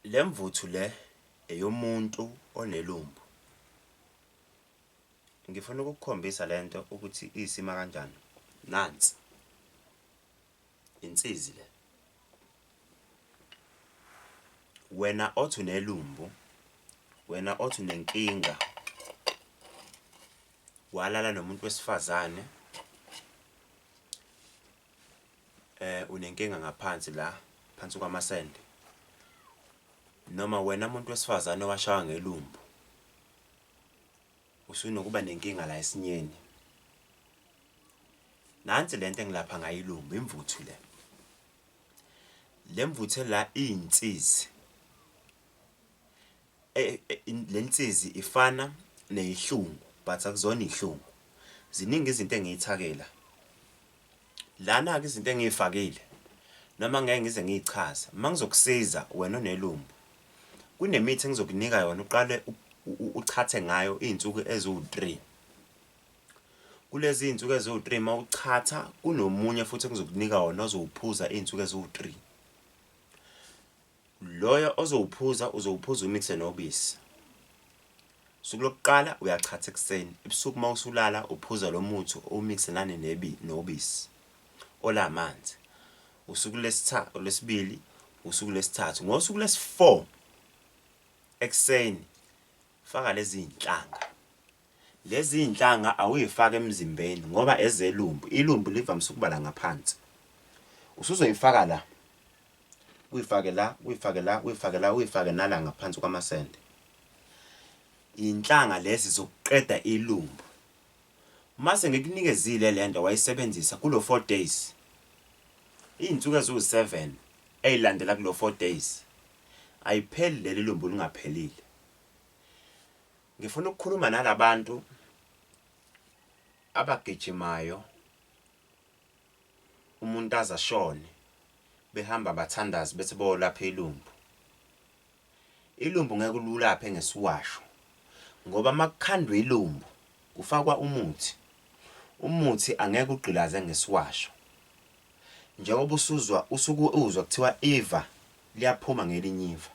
Le mvuthu le eyomuntu onelumbu. Ngifuna ukukukhombisa le nto ukuthi iyisima kanjani. Nansi insizi le. Wena othi unelumbu, wena othi unenkinga, walala nomuntu wesifazane, Eh unenkinga ngaphansi la phansi kwamasende noma wena muntu wesifazane owashawa ngelumbu usunokuba nenkinga la esinyeni. Nansi lento engilapha ngayo ilumbu imvuthu le. Lemvuthu ela izinsizi Eh, eh, in- le nsizi ifana neyihlungu but akuzona ihlungu ziningi izinto engiyithakela lana-ke izinto engiyifakile noma ngeke ngize ngiyichaze uma ngizokusiza wena onelumbu kunemithi engizokunika yona uqale u- u- u- uchathe ngayo iy'nsuku eziwu-three kulezi iy'nsuku eziwu-three uma uchatha kunomunye futhi engizokunika wona ozowuphuza iy'nsuku eziwu-three Loyo ozowuphuza uzowuphuza uwumixe nobisi. Usuku lokuqala uyachatha ekuseni, ebusuku uma usulala uphuza lo muthi uwumixe nane nebi nobisi ola manzi. Usuku lesithathu olwesibili, usuku lesithathu. Ngosuku lesi-4 ekuseni faka lezi zinhlanga Lezi zinhlanga awuyifaki emzimbeni ngoba ezelumbu, ilumbu livamise ukuba la ngaphansi. Usuzoyifaka la, uyifake la, uyifake la, uyifake la, uyifake nala ngaphansi kwamasende. Iy'nhlanga lezi zokuqeda ilumbu. Mase ngikunikezile le nto wayisebenzisa kulo four days, iy'nsuku eziwu-seven ey'landela kulo four days, ayipheli leli lumbu lingaphelile. Ngifuna ukukhuluma nalabantu abagijimayo umuntu aze ashone behamba bathandazi bethi bolapha ilumbu. Ilumbu ngeke ululaphe ngesiwasho ngoba makukhandwa ilumbu kufakwa umuthi. Umuthi angeke ugqilaze ngesiwasho. Njengoba usuzwa usuke uzwa kuthiwa iva liyaphuma ngelinye iva.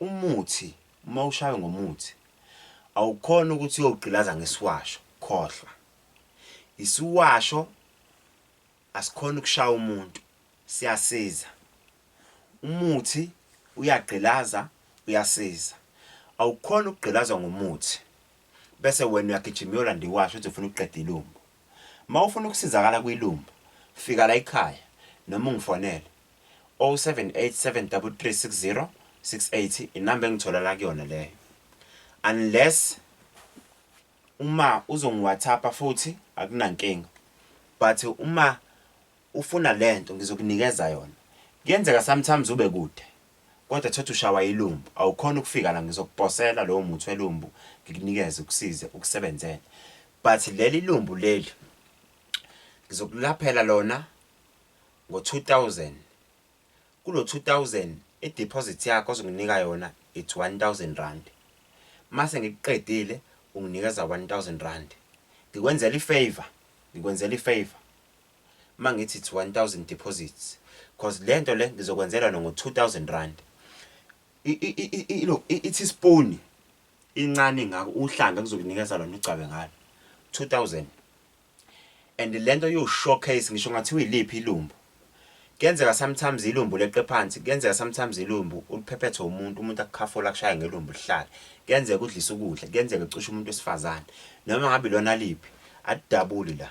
Umuthi uma ushawe ngomuthi awukhona ukuthi uyogqilaza ngesiwasho khohlwa. Isiwasho asikhona ukushaya umuntu siyasiza. Umuthi uyagqilaza uyasiza. Awukhona ukugqilazwa ngomuthi bese wena uyagijima uyolanda iwasho uthi ufuna ukuqeda ilumbo. Uma ufuna ukusizakala kwiLumbo, fika la ekhaya noma ungifonele. 078 733 660 inamba engitholala kuyona leyo. Unless uma uzongiwhatsappa futhi akunankinga. But uma Ufuna lento ngizokunikeza yona kuyenzeka sometimes ube kude kodwa thothi ushawa ilumbu awukhona ukufika la ngizokuposela lowo muthi welumbu ngikunikeze ukusize ukusebenzele but leli lumbu leli ngizokulaphela lona ngo 2000 kulo 2000 ideposit yakho ozonginika yona it's 1000 rand mase ngikuqedile unginikeza 1000 rand ngikwenzela ifavor ngikwenzela ifavor mangithi it's 1000 deposits cause lento le ngizokwenzelwa no ngo 2000 rand look ithi spoon incane ngako uhlanga kuzokunikeza lona ugcabe ngalo 2000 and lento yo showcase ngisho ngathi uyiliphi ilumbu kuyenzeka sometimes ilumbu leqe phansi kuyenzeka sometimes ilumbu uliphephethe umuntu umuntu akukhafola kushaya ngelumbu lihlale kuyenzeka udlisa ukudla kuyenzeka ecusha umuntu wesifazane noma ngabe lona liphi adabuli la